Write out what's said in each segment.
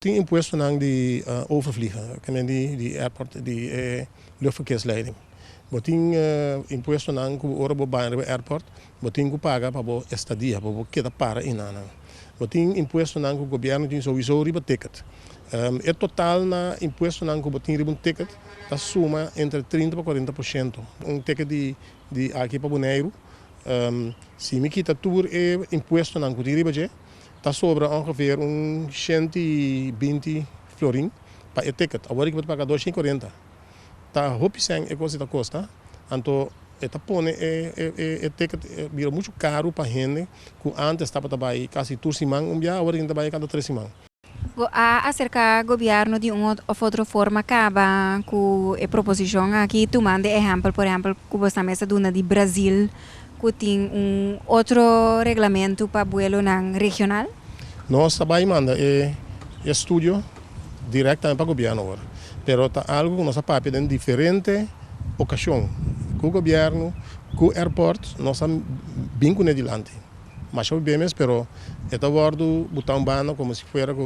Tin impuestonan di overvliegen, kende di di airport, di e luchtverkeersleiding. Bo tin impuestonan ku ora bo bai riba airport bo tin ku paga pa bo estadia, pa bo keda para einan. Bo tin impuestonan ku gobièrnu tin souiso riba ticket. E total na impuestonan ku bo tin riba un ticket ta suma entre trinta pa kuarenta por shento. Un ticket di di aki pa Boneiru, si mi kita tur e impuestonan ku tin riba dje, Ta sobra ongeveer un shent i binti florin pa e ticket. Awor riba bo ta paga dos shen i kurenta. Ta hopi sèn e kos ei ta kosta, anto e ta pone e ticket bira muchu karu pa hende ku ántes tabata bai kasi tur siman un biaha, awor riba ta bai kada tres siman. Bo a aserká gobièrnu di un òf otro forma kaba ku e proposishon aki tumando e ehèmpel, por ehèmpel, ku bo sta mester duna di Brazil? cu tin un otro reglamento pa buelonan regional? Nos ta bay manda e estudio directamen pa gobierno awor, pero ta algo cu nos a papia den diferente ocasion cu gobierno, cu airport, nos a bin cune dilanti. Masha por bi'e mes, pero e ta wordo bota un banda como si fuera cu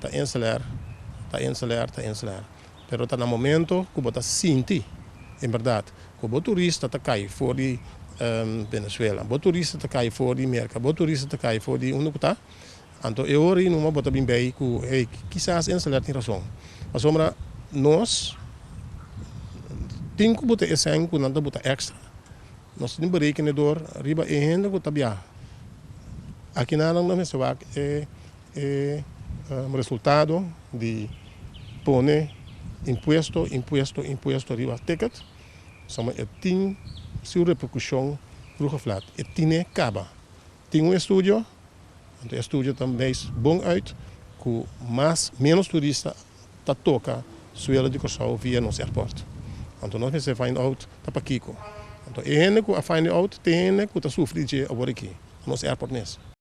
ta enceler, ta enceler, ta enceler. pero ta na momento ku bo ta sinti en bèrdat ku bo turista ta kai for di Venezuela, bo turista ta kai for di Merka, bo turista ta kai for di unda ku ta, anto e ora ei numa bo ta bin bei ku hey, kisas Enseler tin rason. Pasobra nos tin ku buta esèn ku nan ta buta èkstra. Nos tin berekenedor riba e hende ku ta biaha. Akina nan mester wak e. E resultado di pone impuesto, impuesto, impuesto riba ticket sama e tin su repercusion vroeg of laat. E tine kaba. Tin un estudio, e estudio ta wijs bon uit ku mas, menos turista ta toka suelo di Kòrsou via nos airport. Anto nos mester find out ta pakiko. Anto e hende ku a find out, tin hende ku ta sufri di dje a wòrdu aki, nos airport mes.